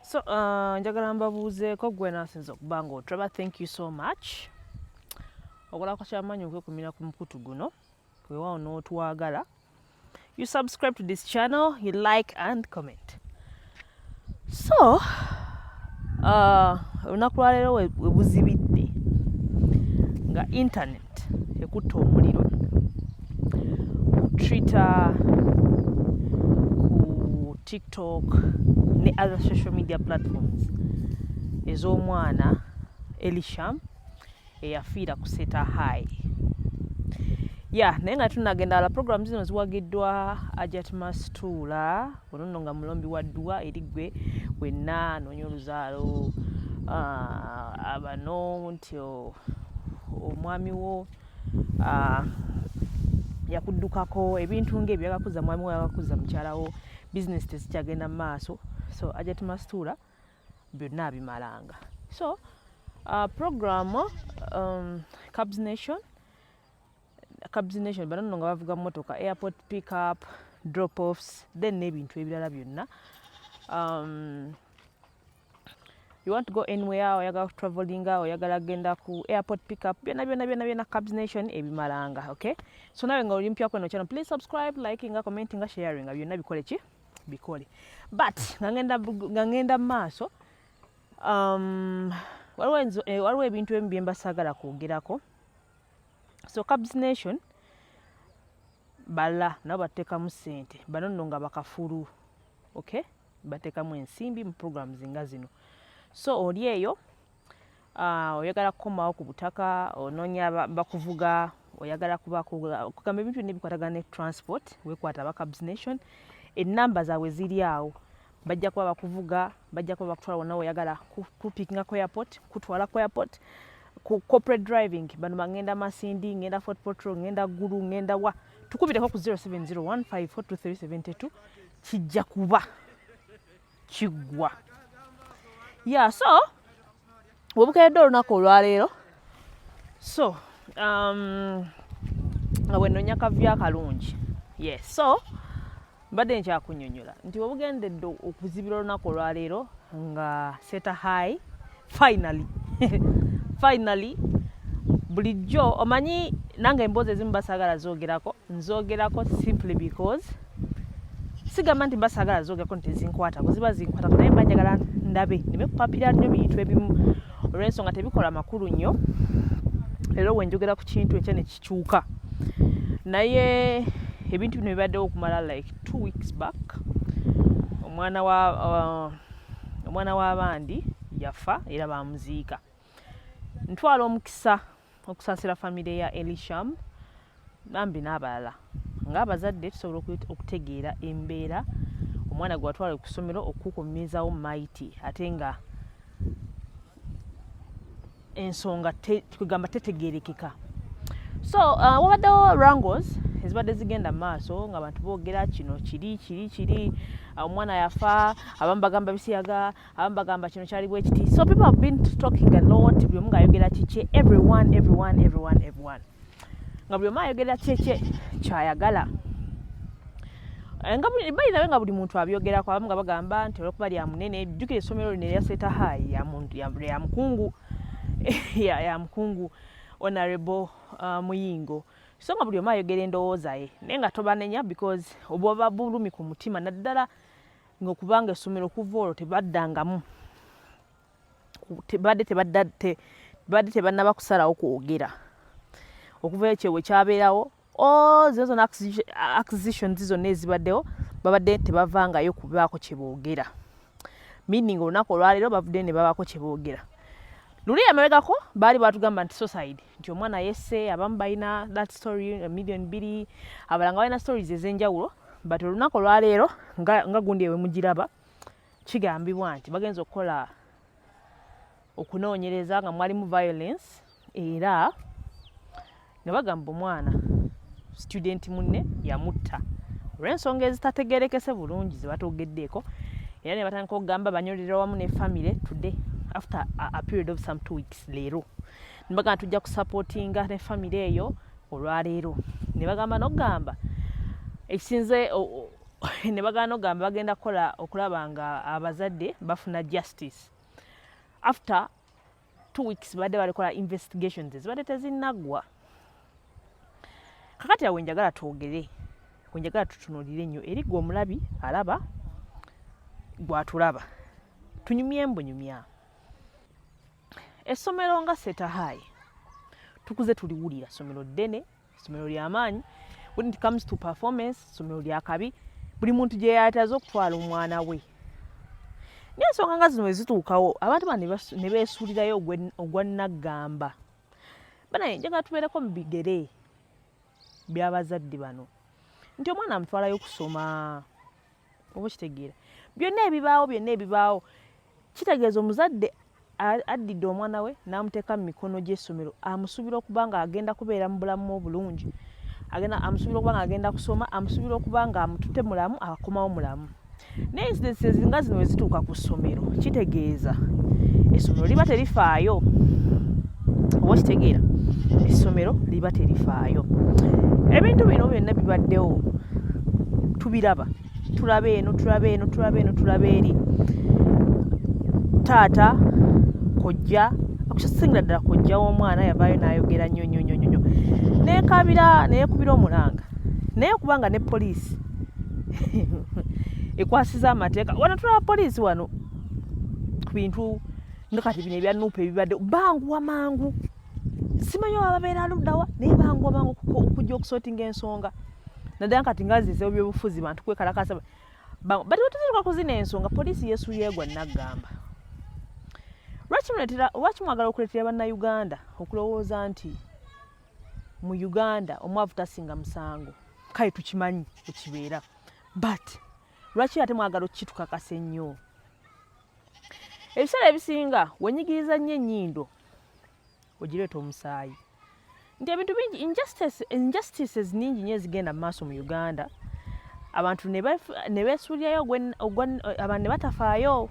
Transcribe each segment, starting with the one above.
so uh, njagala mbabuuzeeko gwe nasinza okuba nga otraba thank you so much okolako kyamanyi okwekumira ku mukutu guno wewawo n'otwagala you subscribe to this channel you like and comment so uh, olunaku uh, lwaleero webuzibidde nga internet ekutte omuliro ku twitter ku tiktok ne other social media platforms ez'omwana elisham eyafiira ku seta high ya naye nga tunagenda ala program zino ziwagiddwa ajat mastuula Ono nno nga mulombi wa dduwa eri ggwe wenna anoonya oluzaalo abano nti omwami wo yakuddukako ebintu ng'ebyo yagakuza mwami wo yagakuza mukyala wo bizinesi tezikyagenda mu maaso so ajati mastuula byonna abimalanga so uh, program um, cabs nation cabs nation bano nno nga bavuga motoka airport pick up drop offs then n'ebintu ebirala byonna um, you want to go anywhere oyagala kutravelinga oyagala genda ku airport pick up byona byona byona byona cabs nation ebimalanga okay so nawe nga olimpya kweno channel please subscribe liking nga commenting nga sharing nga byona bikole ki bikole but nga ngenda nga ngenda maaso um waliwo eh, waliwo ebintu ebimu byemba sagala kwogerako so cabs nation bala nabo batekamu sente bano nno nga bakafulu okay batekamu ensimbi mu programs nga zino so oli eyo uh, oyagala kukomawo ku butaka ononya bakuvuga oyagala kubakugamba ebintu byonna ebikwatagana ne transport wekwata aba cabs nation enamba zaabwe ziri awo bajja kuba bakuvuga bajja kuba bakutwala wonna weyagala kupikinga ku airport kutwala ku airport ku corporate driving bano bangenda masindi ngenda fort potro ngenda gulu ngenda wa tukubireko ku 0701542372 kijja kuba kiggwa ya so webukedde olunaku olwaleero so um, nga bwenonya kavyo akalungi yes so mbadde nkyakunyonyola nti webugendedde okuzibira olunaku olwaleero nga seta high finally finally bulijjo omanyi nange emboozi ezimu basagala zogerako nzogerako simply because sigamba nti mba saagala zoogerako nti zinkwata bwe ziba zinkwata naye mba njagala ndabe ndeme kupapira nnyo bintu ebimu olw'ensonga tebikola makulu nnyo leero we njogera ku kintu enkya ne kikyuka naye ebintu bino bibaddewo okumala like two weeks back omwana wa uh, omwana w'abandi yafa era bamuziika ntwala omukisa okusaasira famire ya elisham bambi n'abalala ng'abazadde tusobola okutegeera embeera omwana gwe watwala ku ssomero okukukumizawo maiti ate nga ensonga kwegamba tetegerekeka so uh, wabaddewo rangles ezibadde zigenda mu maaso nga abantu boogera kino kiri kiri kiri omwana yafa abamu bagamba bisiyaga abamu bagamba kino kyali bwekiti so people have been talking a lot buli omu ng'ayogera kikye everyone everyone everyone everyone nga buli omu ayogera kyekye kyayagala eh, nga bali nawe nga buli muntu abyogerako abamu nga bagamba nti olwokuba lya munene jjukira essomero lino eryaseta hayi ya mukungu ya mukungu honorable uh, muyingo so nga buli omu ayogera endowooza ye naye nga tobanenya because obwaba bulumi ku mutima naddala nga okubanga essomero okuva olwo tebaddangamu tebadde tebadda te badde tebannaba kusalawo kwogera okuva ekyo we kyabeerawo all zino zona acquisitions zonna ezibaddewo babadde tebavangayo kubaako kye boogera meaning olunaku olwaleero bavuddeyo ne babaako kye boogera luli emabegako baali batugamba nti society nti omwana yese abamu balina that story million biri abalanga balina stories ezenjawulo but olunaku olwaleero nga, nga gundi ewemugiraba kigambibwa nti bagenza okukola okunoonyereza nga mwalimu violence era nga bagamba omwana student munne yamutta olw'ensonga ezitategerekese bulungi zebatogeddeeko era ne batandika okugamba banyolera wamu ne famire today after a, a period of some two weeks leero nebagamba tujja kusapotinga ne famiry eyo olwaleero nebagamba nogamba ekisinze nebagamba nogamba bagenda kukola okulaba nga abazadde bafuna justice after two weeks badde balikola investigations zibadde tezinaggwa kakati awo enjagala twogere wenjagala tutunulire nnyo eri gwe omulabi alaba gwatulaba tunyumye mbunyumya essomero nga seta high tukuze tuliwulira somero ddene somero lyamaanyi when it comes to performance somero lyakabi buli muntu gyeyataze okutwala omwana we naye ensonga nga zino wezituukawo abantu ba ne beesuulirayo ogwa naggamba banaye njagala tubeereko mu bigere by'abazadde bano nti omwana amutwalayo kusoma oba okitegeera byonna ebibaawo byonna ebibaawo kitegeeza omuzadde addidde omwana we n'amuteeka mu mikono gy'essomero amusuubira okuba nga agenda kubeera mu bulamu obulungi agenda amusuubira okuba nga agenda kusoma amusuubira okuba nga amutute mulamu akomawo mulamu naye incidence ezinga zino wezituuka ku ssomero kitegeeza essomero liba terifaayo oba okitegeera essomero liba terifaayo ebintu bino byonna bibaddewo tubiraba tulaba eno tulaba eno tulaba eno tulaba eri taata kojja akukisingira ddala kojja w'omwana yavaayo n'ayogera nnyo nnyo nnyo nnyo neekabira neekubira omulanga naye kubanga ne poliisi ekwasiza amateeka wano tulaba poliisi wano ku bintu nga kati bino ebya nuupu ebibadde banguwa mangu simanyi oba babeera luddawa naye banguwa mangu okujja okusootinga ensonga naddala kati nga zizewo byobufuzi bantu kwekalakasa bati wetuzirika kuzina ensonga poliisi yesuyeegwa naggamba lwaki mwagala okuleetera bannayuganda okulowooza nti mu uganda omwavu tasinga musango kale tukimanyi ekibeera but lwaki ate mwagala okukitukakasa ennyo ebiseera ebisinga wenyigiriza nnyo ennyindo ogireeta omusaayi nti ebintu bingi injustices ningi nyo ezigenda mu maaso mu uganda abantu ne beesuulirayo abantu ne batafaayo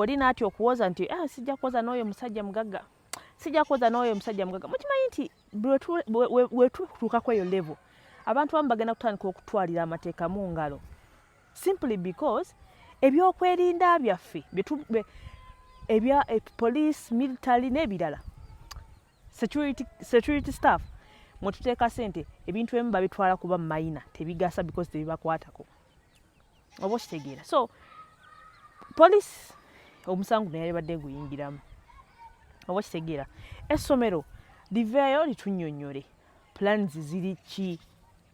oli naati okuwoza nti ah, sijja kuwoza n'oyo musajja mugagga sijja kuwoza n'oyo musajja mugagga mukimanyi nti wetutuuka kweyo levo abantu bamu bagenda kutandika okutwalira amateeka mu ngalo simply because ebyokwerinda byaffe ebya eh, police military n'ebirala security, security staff mwetuteeka sente ebintu emu babitwala kuba mayina tebigasa because tebibakwatako oba okitegeera so police omusango naye yabadde guyingiramu oba okitegeera essomero liveeyo litunyonyole plans ziri ki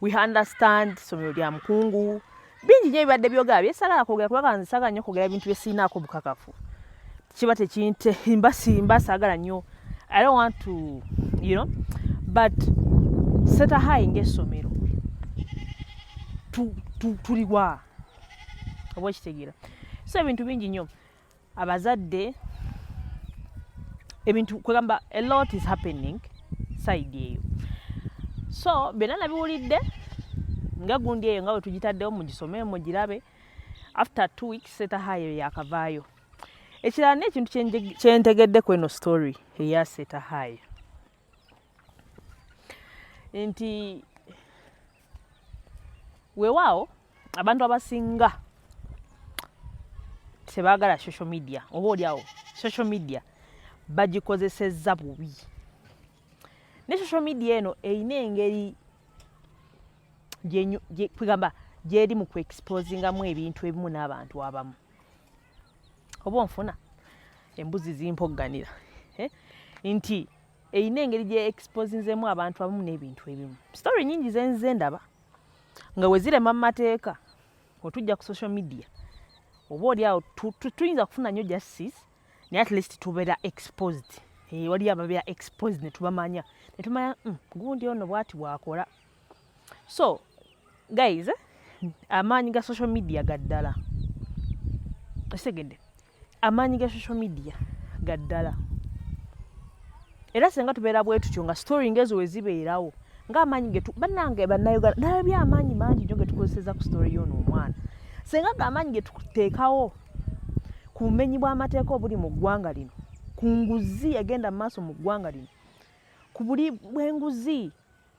we understand somero lya mukungu bingi nyo ebibadde byogera byesalala kwogera kubanga nze sagala nyo kwogera bintu byesirinaako bukakafu kiba tekinte mba simba sagala nyo i don't want to you know but seta high ngaessomero tuliwa oba okitegeera so ebintu bingi nyo abazadde ebintu kwegamba a lot is happening side eyo so byonna nabiwulidde nga gundi eyo nga wetugitaddewo mugisome mugirabe after two weeks setahayo yakavaayo ekirala nekintu kyentegedde ku eno story eya setahayo nti weewaawo abantu abasinga tebaagala social media oba olyawo social media bagikozesezza bubi ne social media eno erina engeri kwegamba gyeri mu kuexposingamu ebintu ebimu n'abantu abamu oba onfuna embuzi zimpogganira eh? nti erina engeri gye exposinzemu abantu abamu n'ebintu ebimu story nyingi zenze ndaba nga wezirema mu mateeka otujja ku social media oba oli awo tuyinza kufuna nnyo justice naye at least tubeera exposed eh, waliyo ababeera exposed netubamanya netumanya mm, gundi ono bwati bwakola so guys eh, amaanyi ga social media gaddala ekitegedde amaanyi ga social media ga ddala era singa tubeera bwe tutyo nga story ngaezo we zibeerawo ng'amaanyi ge bannange bannayuganda nalabye amaanyi mangi nyo ge tukozeseza ku story yoono omwana singa ge amaanyi ge tuteekawo ku bumenyi bw'amateeka obuli mu ggwanga lino ku nguzi egenda mu maaso mu ggwanga lino ku buli bw'enguzi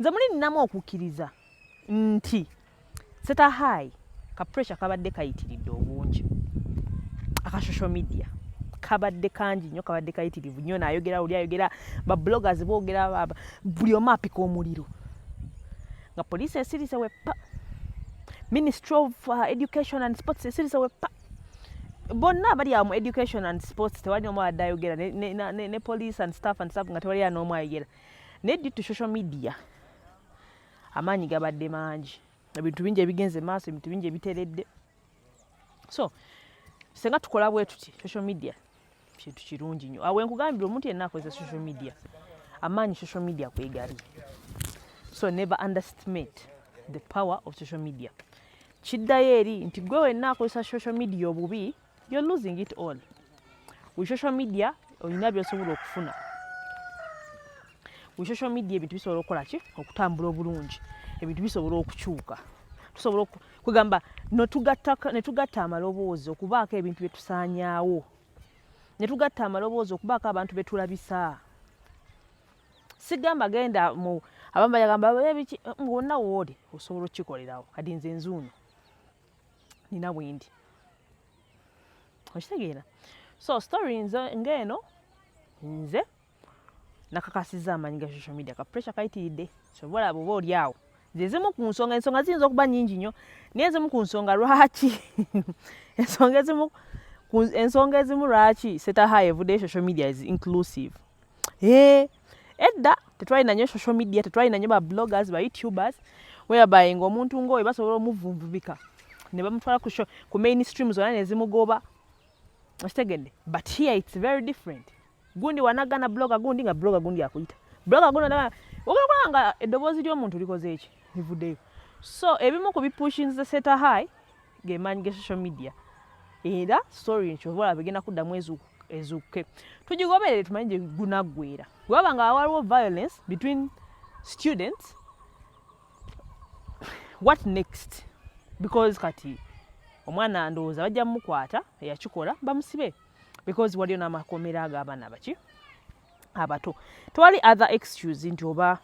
nze muli ninamu okukkiriza nti seta high ka pressure kabadde kayitiridde obungi aka social media kabadde kangi nnyo kabadde kayitirivu nnyo naayogera oli ayogera babloggers boogera buli omu apika omuliro nga poliisi esirise weppa ministry of uh, education and sports esirise weppa bonna abali awo mu education and sports tewali n'omu abadde ayogera ne, ne, ne, ne police and staff and staff nga tewali an'omu ayogera naye due to social media amaanyi gabadde mangi ebintu bingi ebigenze maaso ebintu bingi ebiteredde so senga tukola bwe tuti social media kintu kirungi nnyo awe nkugambira omuntu yenna akozesa social media amaanyi social media kwegali so never underestimate the power of social media kiddayo eri nti gwe wenna akozesa social media obubi You're losing it all. With social media, olina byosobola okufuna. With social media ebintu bisobola okukola ki? Okutambula obulungi. Ebintu bisobola okukyuka. Tusobola okugamba no tugatta ne tugatta amaloboozi okubaako ebintu bye tusaanyaawo. Ne tugatta amaloboozi okubaako abantu be tulabisa. Sigamba genda mu abamba yagamba ebiki ngonna woode osobola okukikolerawo kati nze nzuuno. nina bwendi okitegeera so story nze ngaeno nze nakakasiza amanyi ga social media ka pressure kayitiridde sobola bwoba oli awo zezimu ku nsonga ensonga ziyinza okuba nyingi nnyo naye ezimu ku nsonga lwaki ensonga ezimu ensonga ezimu lwaki setaha evudeyo social media is inclusive Hey, eh, edda tetwalina nyo social media tetwalina nyo ba bloggers ba youtubers whereby nga omuntu ng'oyo basobola omuvunvubika ne bamutwala ku, ku mainstream zona ne zimugoba okitegedde but here it's very different gundi wanagana blogger gundi nga blogger gundi akuyita blogger gundi anagana okulaba nga eddoboozi ly'omuntu likoze eki livuddeyo so ebimu ku bipushinze seta high gemaanyi ge social media era story nkyova olaba egenda kuddamu ezuukuke tugigoberere tumanyi gye gunaggwera webaba nga waliwo violence between students what next because kati omwana ndowooza bajja mumukwata eyakikola bamusibe because waliyo n'amakomera ag'abaana baki abato tewali other excuse nti oba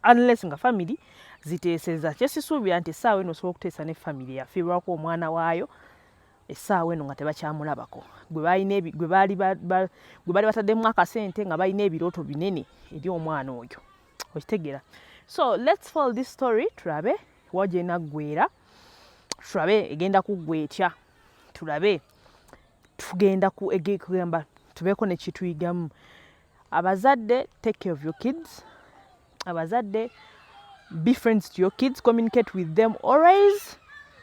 unless nga family ziteeseza kyesisuubira nti essaawa eno osobola okuteesa ne family yafiirwako omwana waayo essaawa eno nga tebakyamulabako gwe baali bataddemu akasente nga balina ebirooto binene eri omwana oyo okitegeera so let's fall this story tulabe wagenda ggwera tulabe egenda kuggwa etya tulabe tugenda kugamba tubeeko nekituyigamu abazadde take care of your kids abazadde be friends to your kids communicate with them always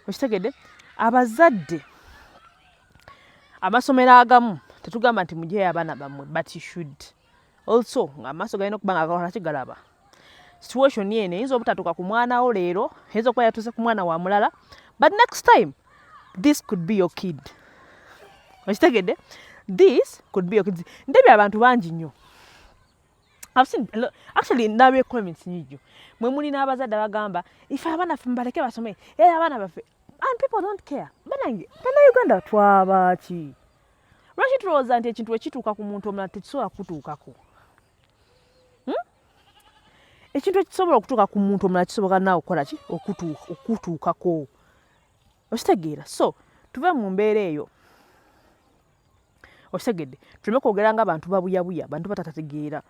okitegedde abazadde amasomero agamu tetugamba nti mujeyo abaana bammwe but you should also amaaso galina okuba nga gakolaki galaba situation eno eyinza obutatuuka ku mwana wo leero eyinza okuba yatuuse ku mwana wa mulala but next time this could be your kid okitegedde this could be your kid ndebye abantu bangi nnyo I've seen a lot. Actually, now we comments in you. When we now was at the Gamba, if I want to from Baraka or something, yeah, I want to. And people don't care. But I, but now you go under Twabachi. Rashid Rose and Echintu Echituka Kumunto Matisoa Kutukaku. hmm? ekintu ekisobola okutuuka ku muntu omulala kisoboka naawe okukola ki okutuukako okitegeera so tuve mu mbeera eyo okitegedde tuleme kwogera nga abantu babuyabuya bantu batatategeera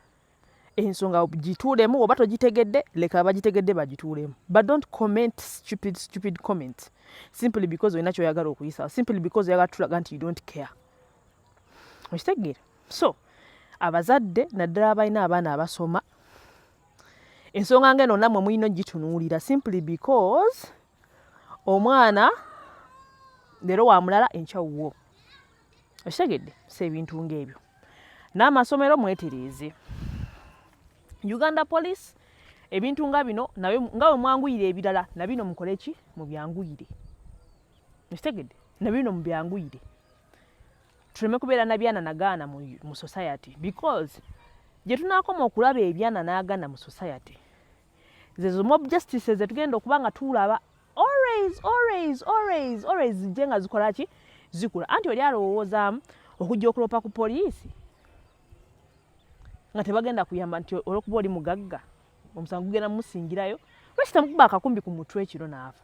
ensonga gituulemu oba togitegedde leka abagitegedde bagituulemu but don't comment stupid stupid comment simply because olina kyoyagala okuyisa simply because oyagala tulaga nti you don't care okitegeera so abazadde naddala abalina abaana abasoma ensonga nga eno namwe mulina ogitunuulira simply because omwana leero wa mulala enkyawuwo okitegedde si ebintu ng'ebyo n'amasomero mwetereeze uganda police ebintu nga bino nga bwe mwanguyire ebirala na bino mukole ki mu byanguyire okitegedde na bino mu byanguyire tuleme kubeera na byana nagaana mu, mu society because gye tunaakoma okulaba ebyana n'agana mu society zezo mob justice ze tugenda okuba nga tuulaba always always always always zijje nga zikola ki zikula anti oli alowoozaamu okujja okuloopa ku poliisi nga tebagenda kuyamba nti olwokuba oli mugagga omusango gugenda mumusingirayo lwaki temukuba akakumbi ku mutwe ekiro naafa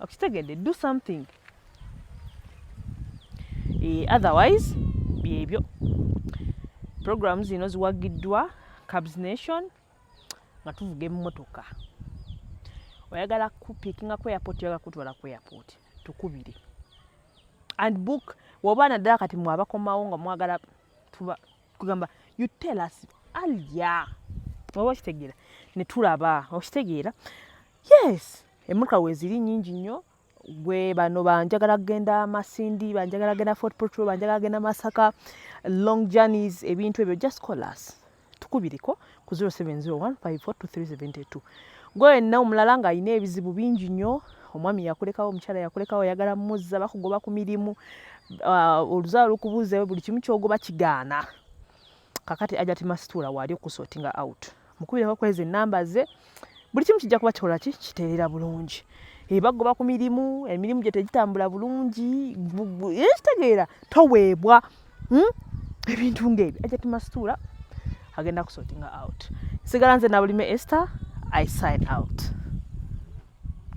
okitegedde do something e, otherwise byebyo programu zino ziwagiddwa cabs nation nga tuvuga emmotoka oyagala kupikinga ku airport oyagala kutwala ku airport tukubire and book woba naddala kati mwabakomawo nga mwagala tugamba you tell us alya oba okitegeera netulaba okitegeera yes emmotoka weeziri nnyingi nnyo gwe bano banjagala kugenda masindi banjagala kugenda fort portugal banjagala kugenda masaka long journeys ebintu ebyo just call us tukubireko ku 0701542372 gwe wenna omulala ng'alina ebizibu bingi nnyo omwami yakulekawo omukyala yakulekawo oyagala muzza bakugoba ku mirimu uh, oluzaalo lukubuuzewo buli kimu kyogoba kigaana kakati ajati masituula waali okusotinga out mukubireko kwezi enamba ze buli kimu kijja kuba kikola ki kiteerera bulungi ebagoba ku mirimu emirimu gye tegitambula bulungi ekitegeera toweebwa hmm? ebintu ngaebyo ajati masituula agenda kusotinga out sigala nze nabulime ester i sign out